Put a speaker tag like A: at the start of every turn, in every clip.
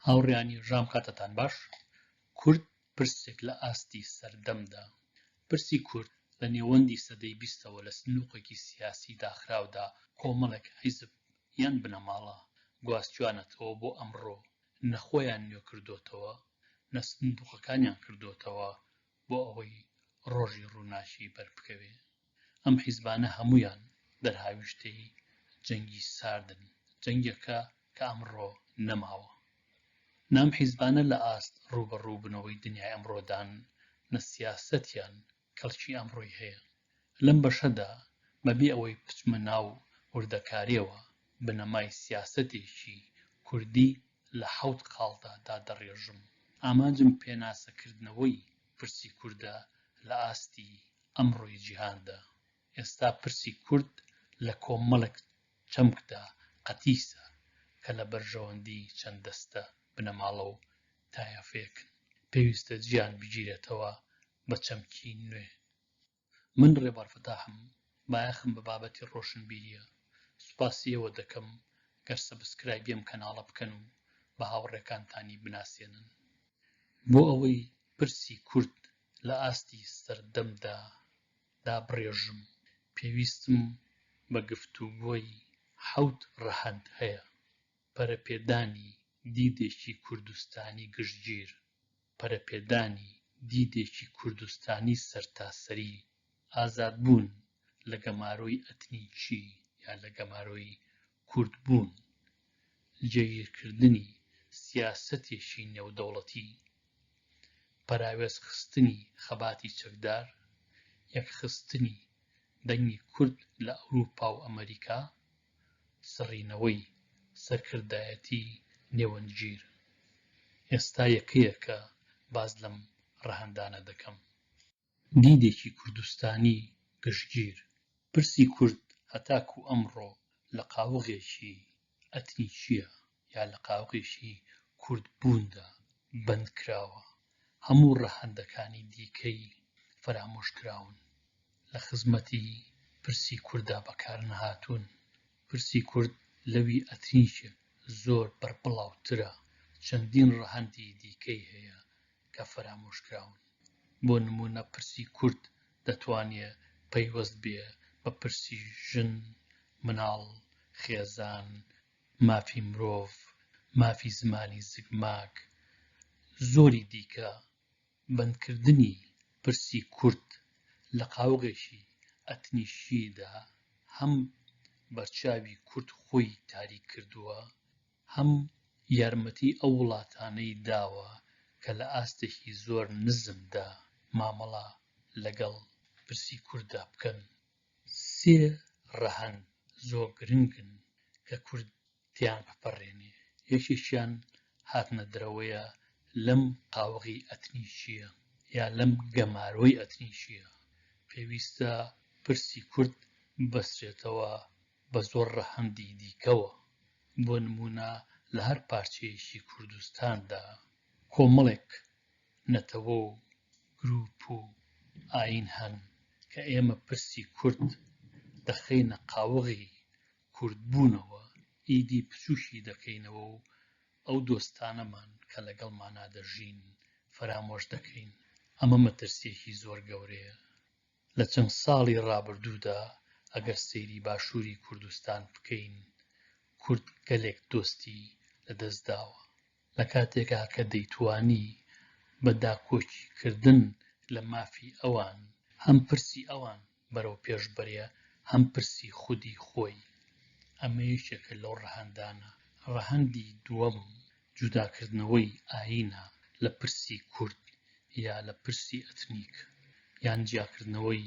A: هاوڕێیانی ژام کاتتان باش کورد پرسێک لە ئاستی سەردەمدا پرسی کورد لە نێوەندی سەدەی بیستەوە لە سنووقێکی سیاسی داخراودا کۆمەڵێک حیزب یان بنەماڵە گواستویانەتەوە بۆ ئەمڕۆ نە خۆیان نوێ کردۆتەوە نە سندوقەکانیان کردۆتەوە بۆ ئەوەی ڕۆژی ڕووناکی بەربکەوێ ئەم حیزبانە هەموویان دەرهاویشتەی جەنگی ساردن، جەنگێکە کە ئەمڕۆ نەماوە. نە ئەم حیزبانە لە ئاست ڕووبەڕووبنەوەی دنیای ئەمڕۆدان، نە سیاسەتیان کەڵکی ئەمڕۆی هەیە. لەم بەشەدا بە بێ ئەوەی بچمە ناو وردەکارییەوە، بنەمای سیاسەتێکی کوردی لە حەوت خاڵدا دادەڕێژم. ئامانجم پێناسەکردنەوەی پرسی کوردە لە ئاستی ئەمڕۆی جیهاندا، ئێستا پرسی کورد لە کۆمەڵێک چەمکدا قەتیسە کە لە بەرژەوەندی چەند دەستە بنەماڵە و تایەفەیەکن، پێویستە جیان بگیرێتەوە بە چەمکی نوێ. من ڕێبوار فەتاحم، بایەخم بە بابەتی ڕۆشنبیریە، سوپاسی ئێوە دەکەم گەر سەبسکرایبی ئەم کەناڵە بکەن و بە هاوڕێکانتانی بناسێنن. بۆ ئەوەی پرسی کورد لە ئاستی سەردەمدا دابڕێژم، پێویستم بە گفتوگۆی حەوت ڕەهەند هەیە، پەرەپێدانی دیدێکی کوردستانی گشتگیر، پەرەپێدانی دیدێکی کوردستانی سەرتاسەری، ئازادبوون لە گەمارۆی ئەتنیکی یا لە گەمارۆی کوردبوون، جێگیرکردنی سیاسەتێکی نێودەوڵەتی، پەراوێزخستنی خەباتی چەکدار، یەکخستنی دەنگی کورد لە ئەوروپا و ئەمەریکا، سڕینەوەی سەرکردایەتی نێوەندگیر. ئێستا یەکەیەکە باس لەم ڕەهەندانە دەکەم. دیدێکی کوردستانی گشتگیر، پرسی کورد هەتاکوو ئەمڕۆ لە قاوغێکی ئەتنیکییە یا لە قاوغێکی کوردبووندا بەند کراوە، هەموو ڕەهەندەکانی دیکەی فەرامۆش کراون، لە خزمەتی پرسی کورددا بەکار نەهاتوون، پرسی کورد لەوی ئەتنیکێک زۆر بەربڵاوترە، چەندین ڕەهەندی دیکەی هەیە کە فەرامۆشکراون. بۆ نموونە پرسی کورد دەتوانێ پەیوەست بێ بە پرسی ژن، مناڵ، خێزان، مافی مرۆڤ، مافی زمانی زگماک، زۆری دیکە. بەندکردنی پرسی کورد لە قاوغێکی ئەتنیکیدا هەم بەرچاوی کورد خۆی تاریک کردووە، هەم یارمەتی ئەو وڵاتانەی داوە کە لە ئاستێکی زۆر نزمدا مامەڵە لەگەڵ پرسی کورددا بکەن. سێ ڕەهەند زۆر گرنگن کە کورد تێیان بپەڕێنێ، یەکێکیان هاتنە دەرەوەیە لەم قاوغی ئەتنیکییە یا لەم گەمارۆی ئەتنیکییە. پێویستە پرسی کورد ببەسترێتەوە بە زۆر ڕەهەندی دیکەوە، بۆ نموونە لە هەر پارچەیەکی کوردستاندا کۆمەڵێک نەتەوە و گرووپ و ئایین هەن کە ئێمە پرسی کورد دەخەینە قاوغی کوردبوونەوە، ئیدی بچووکی دەکەینەوە و ئەو دۆستانەمان کە لەگەڵمانا دەژین فەرامۆش دەکەین. ئەمە مەترسییەکی زۆر گەورەیە لە چەند ساڵی ڕابردوودا ئەگەر سەیری باشووری کوردستان بکەین کورد گەلێک دۆستی لەدەست داوە لە کاتێکا کە دەیتوانی بە داکۆکی کردن لە مافی ئەوان هەم پرسی ئەوان بەرەو پێش بەرێ هەم پرسی خودی خۆی ئەمە یەکێکە لەو ڕەهەندانە ڕەهەندی دووەم جوداکردنەوەی ئایینە لە پرسی کورد یا لە پرسی ئەتنیک یان جیاکردنەوەی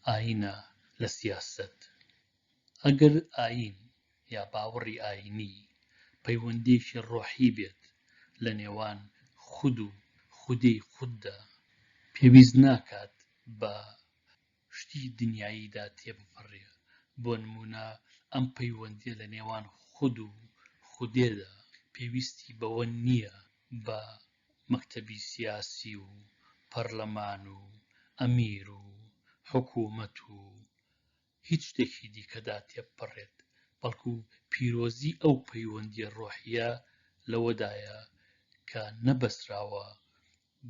A: ئایینە لە سیاسەت. ئەگەر ئایین یا باوەڕی ئایینی پەیوەندییەکی ڕۆحی بێت لە نێوان خود و خودێی خوددا، پێویست ناکات بە شتی دنیاییدا تێبپەڕێ، بۆ نموونە ئەم پەیوەندییە لە نێوان خود و خودێدا پێویستی بەوە نییە بە مەکتەبی سیاسی و پەڕلەمان و ئەمیر و حکوومەت و هیچ شتێکی دیکەدا تێبپەڕێت، بەڵکو پیرۆزیی ئەو پەیوەندییە ڕۆحییە لەوەدایە کە نەبەستراوە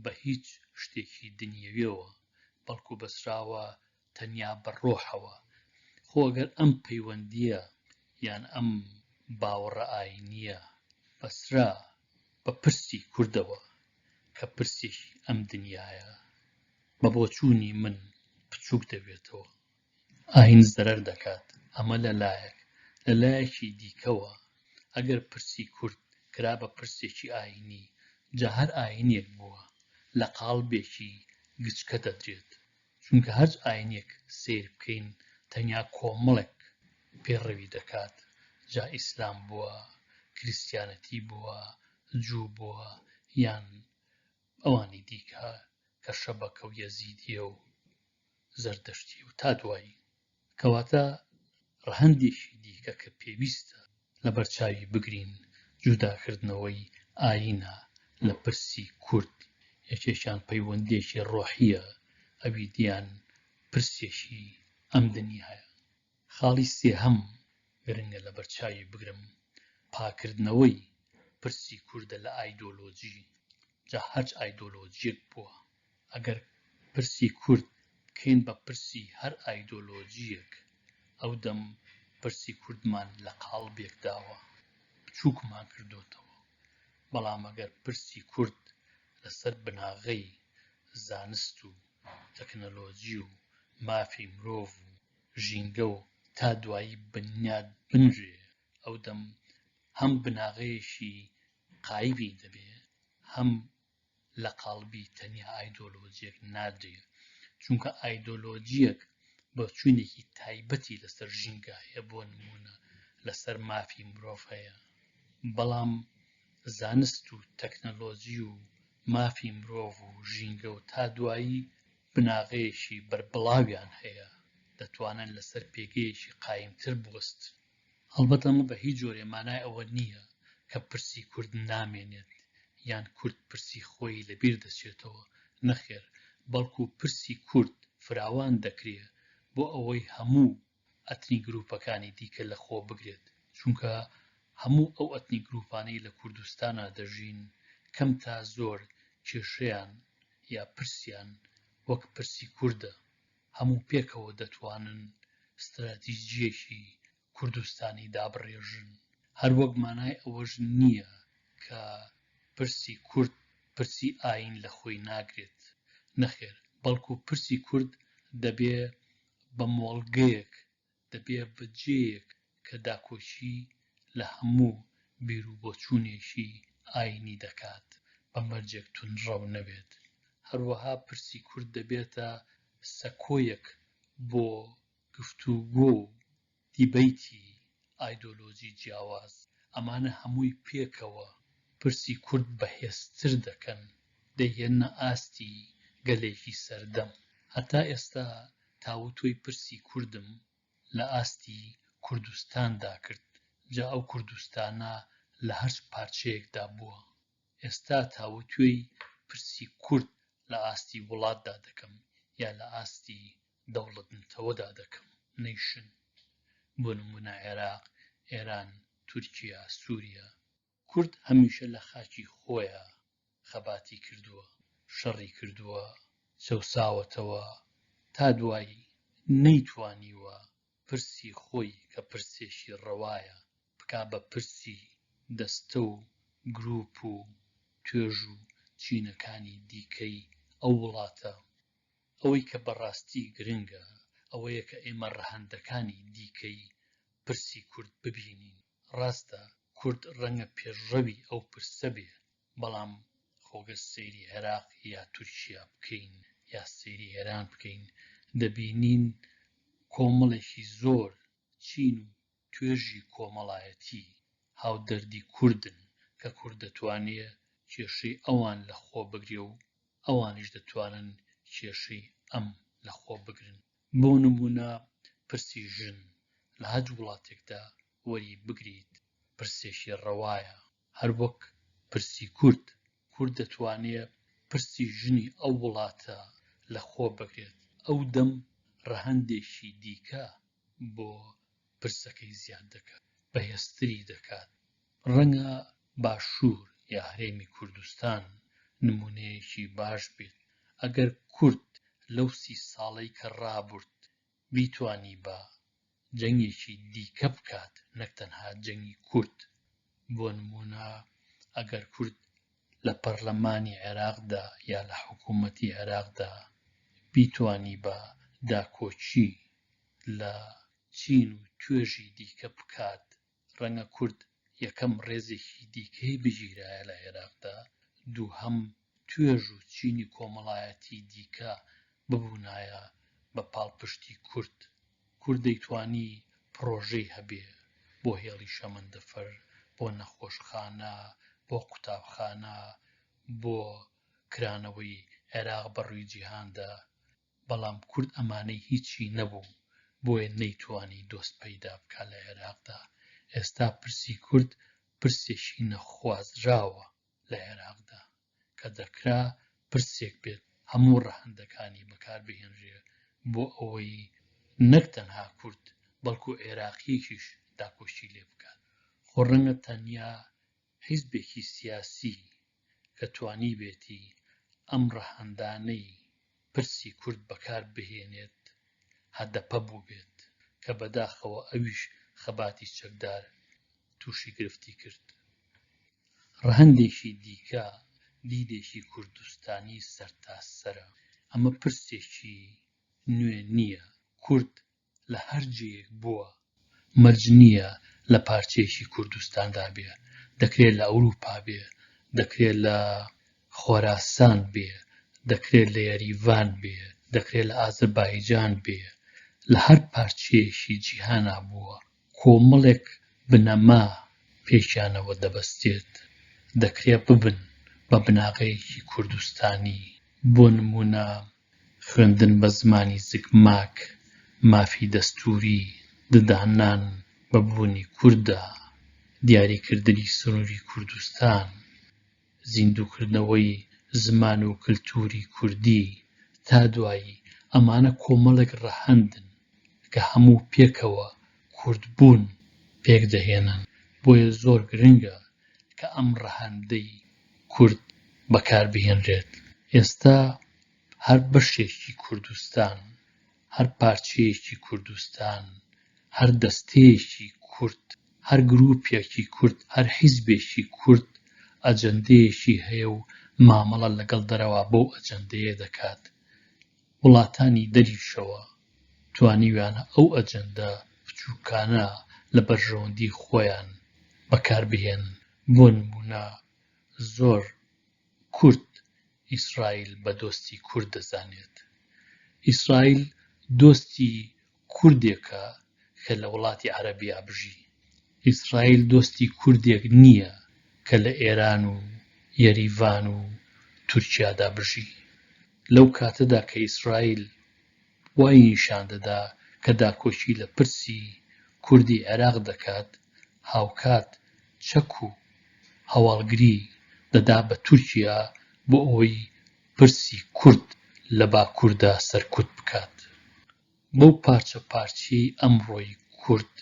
A: بە هیچ شتێکی دنیەویەوە بەڵکو بەسراوە تەنیا بە ڕۆحەوە، خۆ ئەگەر ئەم پەیوەندییە یان ئەم باوەڕە ئایینییە بەسرا بە پرسی کوردەوە کە پرسێکی ئەم دنیایە بە بۆچوونی من بچووک دەبێتەوە. ئایین زەرەر دەکات، ئەمە لە لایەک، لە لایەکی دیکەوە ئەگەر پرسی کورد کرا بە پرسێکی ئایینی، جا هەر ئایینێک بووە لە قاڵبێکی گچکە دەدرێت، چونکە هەرچ ئایینێک سەیر بکەین تەنیا کۆمەڵێک پێڕەوی دەکات، جا ئیسلام بووە، کریستیانەتی بووە، جوو بووە یان ئەوانی دیکە کە شەبەکە و یەزیدییە و. زەردەشتی و تا دوایی. کەواتە ڕەهەندێکی دیکە کە پێویستە لەبەرچاوی بگرین جوداکردنەوەی ئایینە لە پرسی کورد، یەکێکیان پەیوەندییەکی ڕۆحییە، ئەوی دیان پرسێکی ئەم دنیایە. خاڵی سێهەم گرنگە لەبەرچاوی بگرم، پاکردنەوەی پرسی کوردە لە ئایدۆلۆجی، جا هەرچ ئایدۆلۆجیەک بووە، ئەگەر پرسی کورد بکەین بە پرسی هەر ئایدۆلۆجیەک، ئەودەم پرسی کوردمان لە قاڵبێکداوە، بچوکمان کردۆتەوە، بەڵام ئەگەر پرسی کورد لەسەر بناغەی زانست و تەکنەلۆجی و مافی مرۆڤ و. ژینگە و تا دوایی بنیات بنرێ، ئەو دەم هەم بناغەیەکی قایبی دەبێ، هەم لە قاڵبی تەنیا ئایدۆلۆجییەک نادرێ، چونکە ئایدۆلۆجییەک بۆچوونێکی تایبەتی لە سەر ژینگە هەیە، بۆ نموونە لە سەر مافی مرۆڤ هەیە، بەڵام زانست و تەکنەلۆجی و مافی مرۆڤ و ژینگە و تا دوایی بناغەیەکی بەربڵاویان هەیە، دەتوانن لەسەر پێگەیەکی قایمتر بوەستن. هەڵبەت ئەمە بە هیچ جۆرێ مانای ئەوە نییە کە پرسی کورد نامێنێت یان کورد پرسی خۆی لەبیر دەچێتەوە، نەخێر، بەڵکو پرسی کورد فراوان دەکرێ بۆ ئەوەی هەموو ئەتنی گروپەکانی دیکە لە خۆ بگرێت چونکە هەموو ئەو ئەتنی گروپانەی لە کوردستانا دەژین کەم تا زۆر کێشەیان یا پرسیان وەک پرسی کوردە هەموو پێکەوە دەتوانن ستراتیجیەکی کوردستانی دابڕێژن هەر وەک مانای ئەوەش نیە کە پرسی کورد پرسی ئاین لە خۆی ناگرێت نەخێر بەڵکو پرسی کورد دەبێ بە مۆڵگەیەک دەبێ بە جێیەک کە داکۆکی لە هەموو بیروبۆچوونێکی ئایینی دەکات بە مەرجێک توندڕەو نەبێت، هەروەها پرسی کورد دەبێتە سەکۆیەک بۆ گفتوگۆ و دیبەیتی ئایدۆلۆجی جیاواز، ئەمانە هەمووی پێکەوە پرسی کورد بەهێزتر دەکەن، دەیهێننە ئاستی گەلێکی سەردەم. هەتا ئێستا تاوتوێی پرسی کوردم لە ئاستی کوردستاندا کرد، جا ئەو کوردستانە لە هەرچ پارچەیەکدا بووە. ئێستا تاوتوێی پرسی کورد لە ئاستی وڵاتدا دەکەم یا لە ئاستی دەوڵەت نەتەوەدا دەکەم، Nation، بۆ نموونە عێراق، ئێران، تورکیا، سوریا. کورد هەمیشە لە خاکی خۆیا خەباتی کردووە، شەڕی کردووە، چەوساوەتەوە، تا دوایی نەیتوانیوە پرسی خۆی کە پرسێکی ڕەوایە بکا بە پرسی دەستە و گروپ و توێژ و چینەکانی دیکەی ئەو وڵاتە. ئەوەی کە بە ڕاستی گرنگە ئەوەیە کە ئێمە ڕەهەندەکانی دیکەی پرسی کورد ببینین. ڕاستە کورد ڕەنگە پێشڕەوی ئەو پرسە بێ، بەڵام خۆ گەر سەیری عێراق یا تورکیا بکەین یا سەیری ئێران بکەین دەبینین کۆمەڵێکی زۆر چین و توێژی کۆمەڵایەتی هاودەردی کوردن کە کورد دەتوانێ کێشەی ئەوان لە خۆ بگرێ و ئەوانیش دەتوانن کێشەی ئەم لە خۆ بگرن بۆ نموونە پرسی ژن لە هەج وڵاتێکدا وەری بگریت پرسێکی ڕەوایە هەر وەک پرسی کورد کورد دەتوانێ پرسی ژنی ئەو وڵاتە لە خۆ بگرێت ئەو دەم ڕەهەندێکی دیکە بۆ پرسەکەی زیاد دەکات بەهێزتری دەکات، ڕەنگە باشوور یا هەرێمی کوردستان نموونەیەکی باش بێت، ئەگەر کورد لەو سی ساڵەی کە ڕابورد بیتوانیبا جەنگێکی دیکە بکات نەک تەنها جەنگی کورد بۆ نموونە ئەگەر کورد لە پەرلەمانی عێراقدا یا لە حکوومەتی عێراقدا بیتوانی بە داکۆکی لە چین و توێژی دیکە بکات ڕەنگە کورد یەکەم ڕێزێکی دیکەی بگیرایە لە عێراقدا دووهەم توێژ و چینی کۆمەڵایەتی دیکە ببونایە بە پاڵپشتی کورد، کورد دەیتوانی پڕۆژەی هەبێ بۆ هێڵی شەمەندەفەر، بۆ نەخۆشخانە، بۆ قوتابخانە، بۆ کرانەوەی عێراق بە ڕوی جیهاندا، بەڵام کورد ئەمانەی هیچی نەبوو، بۆیە نەیتوانی دۆست پەیدا بکا لە عێراقدا، ئێستا پرسی کورد پرسێکی نەخوازراوە. لە عێراقدا کە دەکرا پرسێک بێت هەموو ڕەهەندەکانی بەکار بهێنرێ بۆ ئەوەی نەک تەنها کورد بەڵکو عێراقیەکیش داکۆکی لێ بکات خۆ ڕەنگە تەنیا حیزبێکی سیاسی کە توانیبێتی ئەم ڕەهەندانەی پرسی کورد بەکار بهێنێت هەدەپە بووبێت، کە بەداخەوە ئەویش خەباتی چەکدار تووشی گرفتی کرد. ڕەهەندێکی دیکە دیدێکی کوردستانی سەرتاسەرە، ئەمە پرسێکی نوێ نییە، کورد لە هەر جێیەک بووە مەرج نییە لە پارچەیەکی کوردستاندا بێ، دەکرێ لە ئەوروپا بێ، دەکرێ لە خۆراسان بێ، دەکرێ لە یەریڤان بێ، دەکرێ لە ئازەربایجان بێ، لە هەر پارچەیەکی جیهانا بووە. کۆمەڵێک بنەما پێکیانەوە دەبەستێت دەکرێت ببن بە بناغەیەکی کوردستانی، بۆ نموونە خوێندن بە زمانی زگماک، مافی دەستووری، دداننان بە بوونی کورددا، دیاریکردنی سنووری کوردستان، زیندووکردنەوەی زمان و کلتووری کوردی تا دوایی، ئەمانە کۆمەڵێک ڕەهەندن کە هەموو پێکەوە کوردبوون پێک دەهێنن، بۆیە زۆر گرنگە کە ئەم ڕەهەندەی کورد بەکار بهێنرێت. ئێستا هەر بەشێکی کوردستان هەر پارچەیەکی کوردستان، هەر دەستەیەکی کورد، هەر گرووپێکی کورد، هەر حیزبێکی کورد ئەجەندەیەکی هەیە و مامەڵە لەگەڵ دەرەوا بەو ئەجەندەیە دەکات. وڵاتانی دەریشەوە توانیویانە ئەو ئەجەندە بچووکانە لە بەرژەوەندیی خۆیان بەکار بهێنن. بۆ نموونە زۆر. کورد ئیسرائیل بە دۆستی کورد دەزانێت. ئیسرائیل دۆستی کوردێکە کە لە وڵاتی عەرەبیا بژی. ئیسرائیل دۆستی کوردێک نییە کە لە ئێران و یەریڤان و تورکیادا بژی. لەو کاتەدا کە ئیسرائیل وای نیشان دەدا کە داکۆکی لە پرسی کوردی عێراق دەکات، هاوکات چەک و هەواڵگری دەدا بە تورکیا بۆ ئەوەی پرسی کورد لە باکووردا سەرکوت بکات. بەو پارچە پارچییەی ئەمڕۆی کورد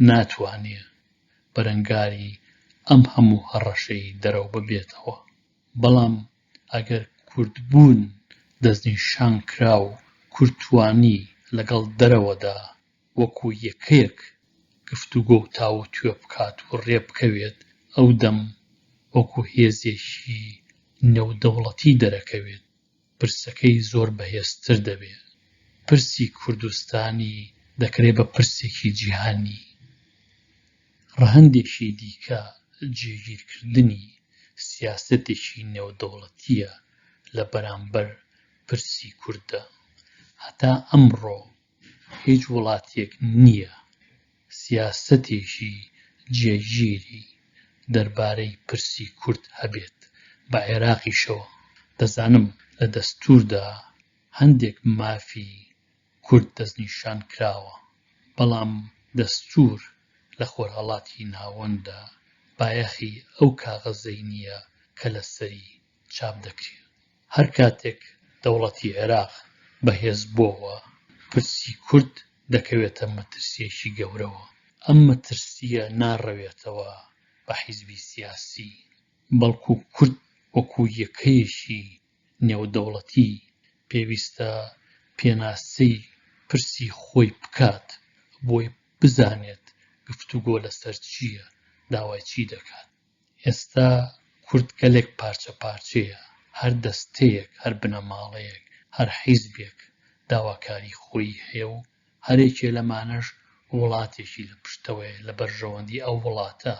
A: ناتوانێ بەرەنگاری ئەم هەموو هەڕەشەی دەرەوە ببێتەوە، بەڵام ئەگەر کورد بوون دەستنیشان کرا و کورد توانی لەگەڵ دەرەوەدا وەکو یەکەیەک گفتوگۆ و تاووتوێ بکات و رێبکەوێت ئەو دەم وەکو هێزێکی نێودەوڵەتی دەرەکەوێت پرسەکەی زۆر بەهێزتر دەبێ پرسی کوردستانی دەکرێ بە پرسێکی جیهانی ڕەهەندێکی دیکە جێگیرکردنی سیاسەتێکی نێودەوڵەتییە لە بەرامبەر پرسی کورددا. هەتا ئەمڕۆ هیچ وڵاتێک نییە سیاسەتێکی جێگیری دەربارەی پرسی کورد هەبێت بە عێراقیشەوە. دەزانم لە دەستووردا هەندێک مافی کورد دەستنیشان کراوە، بەڵام دەستوور لە خۆرهەڵاتی ناوەنددا بایەخی ئەو کاغەزەی نییە کە لەسەری چاپ دەکرێ. هەر کاتێک دەوڵەتی عێراق بەهێز بۆوە، پرسی کورد دەکەوێتە مەترسییەکی گەورەوە. ئەم مەترسییە ناڕەوێتەوە بە حیزبی سیاسی، بەڵکوو کورد وەکوو یەکەیەکی نێودەوڵەتی پێویستە پێناسەی پرسی خۆی بکات بۆی بزانێت گفتوگۆ لەسەر چییە داوای چی دەکات ئێستا کورد گەلێک پارچە پارچەیە هەر دەستەیەک هەر بنەماڵەیەک هەر حیزبێک داواکاری خۆی هەیە و هەرێکێ لەمانەش وڵاتێکی لە پشتەوەیە لە بەرژەوەندی ئەو وڵاتە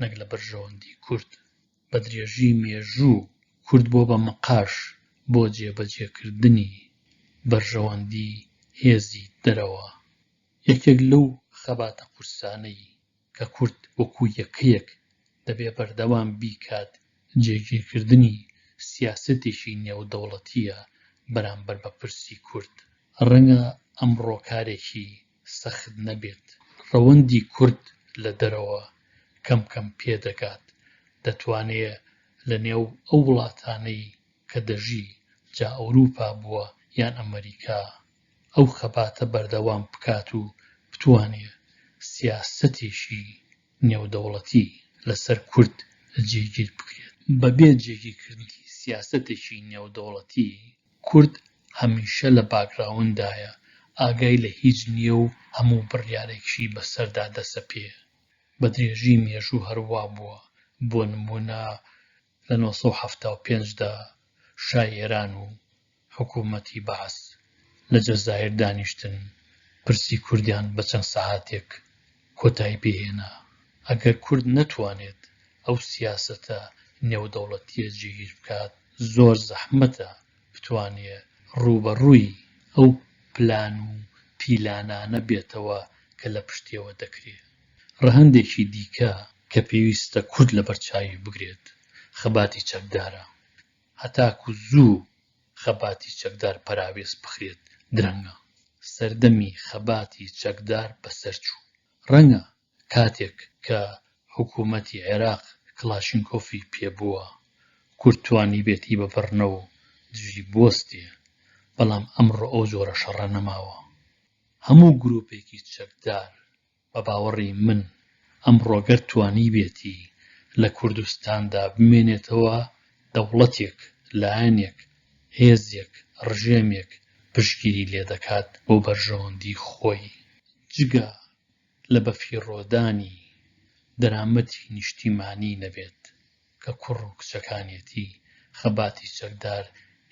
A: نەک لە بەرژەوەندی کورد بە درێژی مێژوو کورد بۆ بە مقاش بۆ جێبەجێکردنی بەرژەوەندی هێزی دەرەوە. یەکێک لەو خەباتە قورسانەی کە کورد وەکوو یەکەیەک دەبێ بەردەوام بیکات جێگیرکردنی سیاسەتێکی نێودەوڵەتییە بەرامبەر بە پرسی کورد. ڕەنگە ئەمڕۆ کارێکی سەخت نەبێت، ڕەوەندی کورد لە دەرەوە کەم کەم پێ دەگات، دەتوانێ لە نێو ئەو وڵاتانەی کە دەژی، جا ئەوروپا بووە یان ئەمەریکا، ئەو خەباتە بەردەوام بکات و بتوانێ سیاسەتێکی نێودەوڵەتی لە سەر کورد جێگیر بکرێت. بە بێ جێگیرکردنی سیاسەتێکی نێودەوڵەتی کورد هەمیشە لە باکگراونددایە، ئاگای لە هیچ نییە و هەموو بڕیارێکیشی بە سەردا دەسەپێ. بە درێژی مێژوو هەر وا بووە، بۆ نموونە لە نۆ سەد و حەفتا و پێنج دا شای ئێران و حکوومەتی بەعس لە جەزایر دانیشتن، پرسی کوردیان بە چەند سەعاتێک کۆتایی پێ هێنا، ئەگەر کورد نەتوانێت ئەو سیاسەتە نێودەوڵەتییە جێگیر بکات، زۆر زەحمەتە بتوانێ ڕووبەڕووی ئەو پلان و پیلانانە بێتەوە کە لە پشتیەوە دەکرێ. ڕەهەندێکی دیکە کە پێویستە کورد لەبەرچاوی بگرێت، خەباتی چەکدارە. هەتاکوو زوو خەباتی چەکدار پەراوێز بخرێت درەنگە سەردەمی خەباتی چەکدار بەسەرچوو ڕەنگە کاتێک کە حکومەتی عێراق کڵاشینکۆفی پێبووە کورد توانیبێتی بەبڕنەو دژی بوەستێ بەڵام ئەمڕۆ ئەو جۆرە شەڕە نەماوە هەموو گروپێکی چەکدار بە باوەڕی من ئەمڕۆ گەر توانیبێتی لە کوردستاندا بمێنێتەوە دەوڵەتێک، لایەنێک، هێزێک، ڕژێمێک پشتگیری لێ دەکات بۆ بەرژەوەندی خۆی، جگە لە بەفیڕۆدانی دەرامەتی نیشتیمانی نەبێت کە کوڕ و کچەکانیەتی، خەباتی چەکدار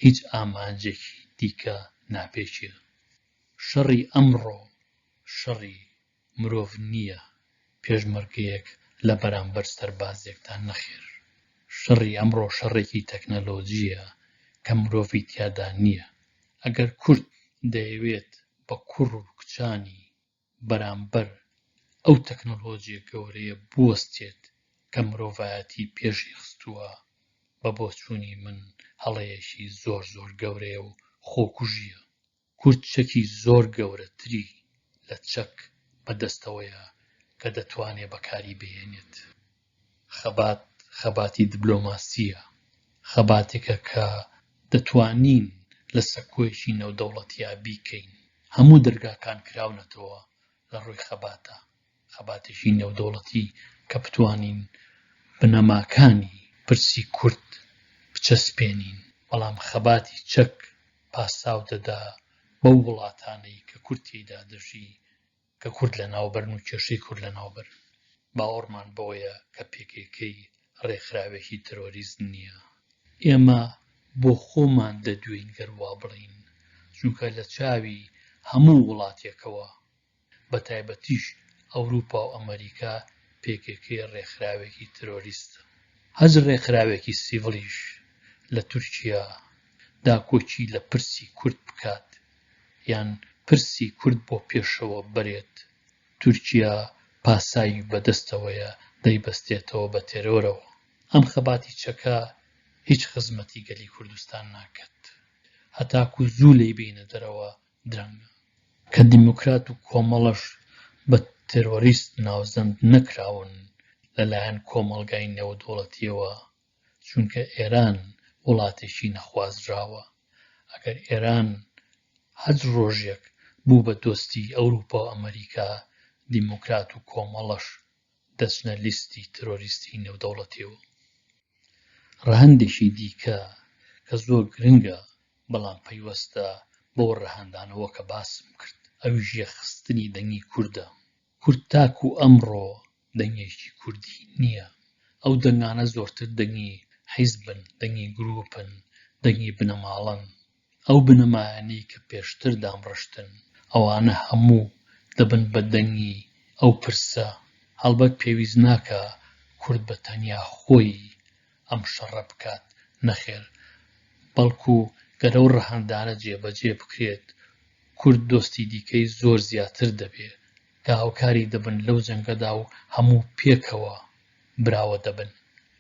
A: هیچ ئامانجێکی دیکە ناپێکێ. شەڕی ئەمڕۆ شەڕی مرۆڤ نییە پێشمەرگەیەک لە بەرامبەر سەربازێکدا نەخێر شەڕی ئەمڕۆ شەڕێکی تەکنەلۆجییە کە مرۆڤی تیادا نییە ئەگەر کورد دەیەوێت بە کوڕ و کچانی بەرامبەر ئەو تەکنۆلۆجیە گەورەیە بوەستێت کە مرۆڤایەتی پێشی خستووە، بە بۆچوونی من هەڵەیەکی زۆر زۆر گەورەیە و خۆکوژییە. کورد چەکی زۆر گەورەتری لە چەک بە دەستەوەیە کە دەتوانێت بەکاری بهێنێت. خەبات خەباتی دبلۆماسییە، خەباتێکە کە دەتوانین لە سەکۆیەکی نێودەوڵەتیا بیکەین، هەموو دەرگاکان کراونەتەوە لە ڕووی خەباتە، خەباتێکی نێودەوڵەتی کە بتوانین بنەماکانی پرسی کورد بچەسپێنین، بەڵام خەباتی چەک پاساو دەدا بەو وڵاتانەی کە کورد تێیدا دەژی، کە کورد لەناوبەرن و کێشەی کورد لەناوبەرن، باوەڕمان بەوەیە کە pkk ڕێکخراوێکی ترۆریست نییە. ئێمە بۆ خۆمان دەدوێین گەر وا بڵێین، چونکە لە چاوی هەموو وڵاتێکەوە، بە تایبەتیش ئەوروپا و ئەمەریکا، pkk ڕێکخراوێکی ترۆریستە. هەچ ڕێکخراوێکی سیڤڵیش لە تورکیا داکۆکی لە پرسی کورد بکات، یان پرسی کورد بۆ پێشەوە بەرێت تورکیا پاساوی بە دەستەوەیە دەیبەستێتەوە بە تێرۆرەوە ئەم خەباتی چەکە هیچ خزمەتی گەلی کوردستان ناکەت هەتاکو زوو لێی بێینە دەرەوە درەنگە کە دیموکرات و کۆمەڵەش بە تێرۆریست ناوزەند نەکراون لە لایەن کۆمەڵگای نێودەوڵەتیەوە چونکە ئێران وڵاتێکی نەخوازراوە، ئەگەر ئێران هەر ڕۆژێک بوو بە دۆستی ئەوروپا و ئەمەریکا، دیموکرات و کۆمەڵەش دەچنە لیستی ترۆریستی نێودەوڵەتیەوە. ڕەهەندێکی دیکە کە زۆر گرنگە بەڵام پەیوەستە بەو ڕەهەندانەوە کە باسم کرد ئەویش یەخستنی دەنگی کوردە. کورد تاکو ئەمڕۆ دەنگێکی کوردی نییە، ئەو دەنگانە زۆرتر دەنگی حیزبن، دەنگی گروپن، دەنگی بنەماڵەن، ئەو بنەمایانەی کە پێشتر دامڕشتن، ئەوانە هەموو دەبن بە دەنگی ئەو پرسە، هەڵبەت پێویست ناکا کورد بە تەنیا خۆی ئەم شەڕە بکات، نەخێر، بەڵکو گەر ئەو ڕەهەندانە جێبەجێ بکرێت، کورد دۆستی دیکەی زۆر زیاتر دەبێ، داهوکاری دەبن لەو جەنگەدا و هەموو پێکەوە براوە دەبن.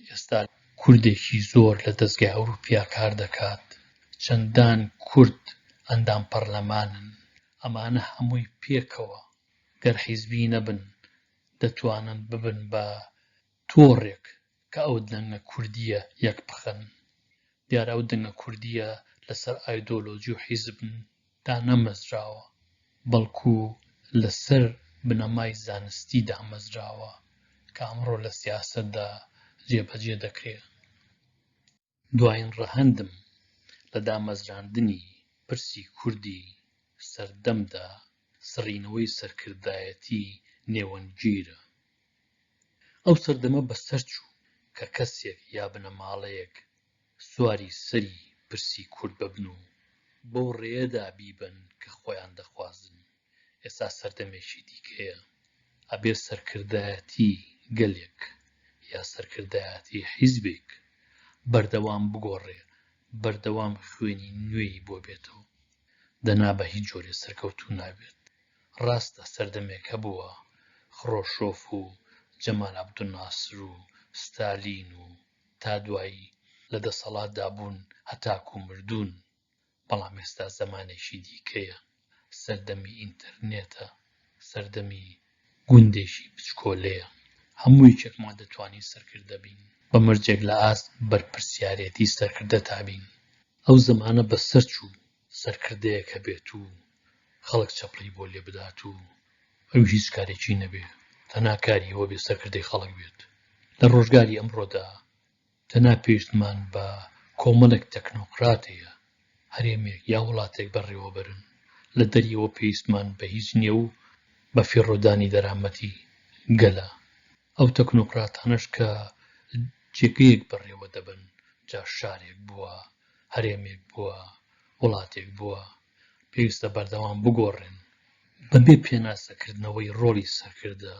A: ئێستا کوردێکی زۆر لە دەزگای ئەوروپیا کار دەکات، چەندان کورد ئەندام پەڕلەمانن، ئەمانە هەمووی پێکەوە گەر حیزبی نەبن دەتوانن ببن بە تۆڕێک کە ئەو دەنگە کوردییە یەک بخەن، دیارە ئەو دەنگە کوردییە لەسەر ئایدۆلۆجی و حیزب دانەمەزراوە، بەڵکو لەسەر بنەمای زانستی دامەزراوە کە ئەمڕۆ لە سیاسەتدا جێبەجێ دەکرێت. دوایین ڕەهەندم لە دامەزراندنی پرسی کوردی سەردەمدا سڕینەوەی سەرکردایەتی نێوەندگیرە. ئەو سەردەمە بەسەرچوو کە کەسێک یا بنەماڵەیەک سواری سەری پرسی کورد ببن و بەو ڕێیەدا بیبەن کە خۆیان دەخوازن. ئێستا سەردەمێکی دیکەیە ئەبێ سەرکردایەتی گەلێک یا سەرکردایەتی حیزبێک بەردەوام بگۆڕێ بەردەوام خوێنی نوێی بۆ بێتەوە دەنا بە هیچ جۆرێ سەرکەوتوو نابێت ڕاستە سەردەمێک هەبووە خڕۆشۆف و جەمال عەبدولناسر و ستالین و تا دوایی لە دەسەڵاتدا بوون هەتاکوو مردوون بەڵام ئێستا زەمانێکی دیکەیە، سەردەمی ئینتەرنێتە، سەردەمی گوندێکی بچکۆلەیە، هەموو یەکێکمان دەتوانین سەرکردە بین، بە مەرجێک لە ئاست بەرپرسیارێتی سەرکردەتا بین، ئەو زەمانە بەسەرچوو سەرکردەیەک هەبێت و خەڵک چەپڵەی بۆ لێ بدات و ئەویش هیچ کارێکی نەبێت، تەنها کاری ئەوە بێت سەرکردەی خەڵک بێت، لە ڕۆژگاری ئەمڕۆدا دەنا پێویستمان بە کۆمەڵێک تەکنۆکرات هەیە، هەرێمێک یا وڵاتێک بەڕێوەبەرن، لە دەریەوە پێویستمان بە هیچ نییە و بە فیڕۆدانی دەرامەتی گەلە، ئەو تەکنۆکراتانەش کە جێگەیەک بەڕێوە دەبەن، جا شارێک بووە، هەرێمێک بووە، وڵاتێک بووە، پێویستە بەردەوام بگۆڕێن. بەبێ پێناسەکردنەوەی ڕۆڵی سەرکردە،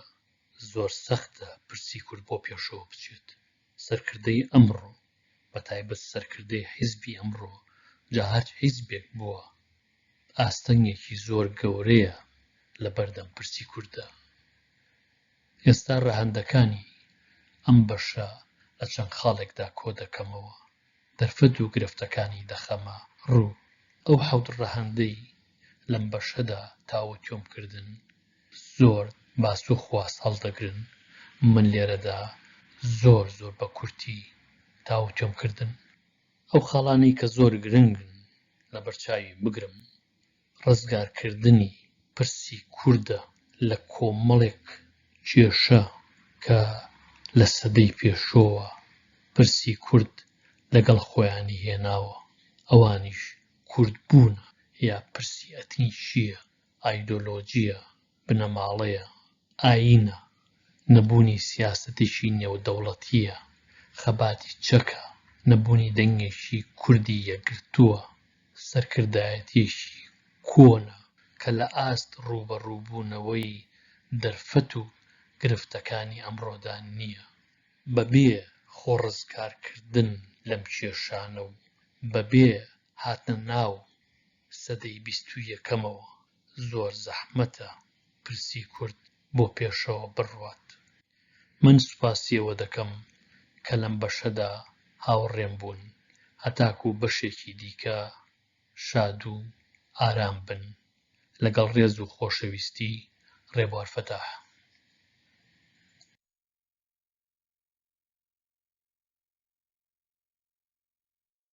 A: زۆر سەختە پرسی کورد بۆ پێشەوە بچێت. سەرکردەی ئەمڕۆ بە تایبەت سەرکردەی حیزبی ئەمڕۆ جا هەر حیزبێک بووە ئاستەنگێکی زۆر گەورەیە لە بەردەم پرسی کورددا. ئێستا ڕەهەندەکانی ئەم بەشە لە چەند خاڵێکدا کۆ دەکەمەوە، دەرفەت و گرفتەکانی دەخەمە ڕوو. ئەو حەوت ڕەهەندەی لەم بەشەدا تاوتوێم کردن، زۆر باس و خواست هەڵدەگرن من لێرەدا زۆر زۆر بە کورتی تاوتوێم کردن ئەو خاڵانەی کە زۆر گرنگن لەبەرچاوی بگرم ڕزگار کردنی پرسی کوردە لە کۆمەڵێک کێشە کە لە سەدەی پێشۆوە پرسی کورد لەگەڵ خۆیانی هێناوە ئەوانیش کورد بوونە یا پرسی ئەتنیکیە ئایدۆلۆژییە، بنەماڵەیە، ئایینە، نەبوونی سیاسەتێکی نێودەوڵەتییە، خەباتی چەکە، نەبوونی دەنگێکی کوردی یەکگرتووە، سەرکردایەتییەکی کۆنە کە لە ئاست ڕووبەڕووبوونەوەی دەرفەت و گرفتەکانی ئەمڕۆدا نییە. بەبێ خۆڕزگارکردن لەم کێشانە و بەبێ هاتنە ناو سەدەی بیست و یەکەمەوە زۆر زەحمەتە پرسی کورد بۆ پێشەوە بڕوات. من سوپاسی ئەوە دەکەم کە لەم بەشەدا هاوڕێم بوون، هەتاکوو بەشێکی دیکە شاد و ئارام بن. لەگەڵ ڕێز و خۆشەویستی، ڕێبوار فەتاح.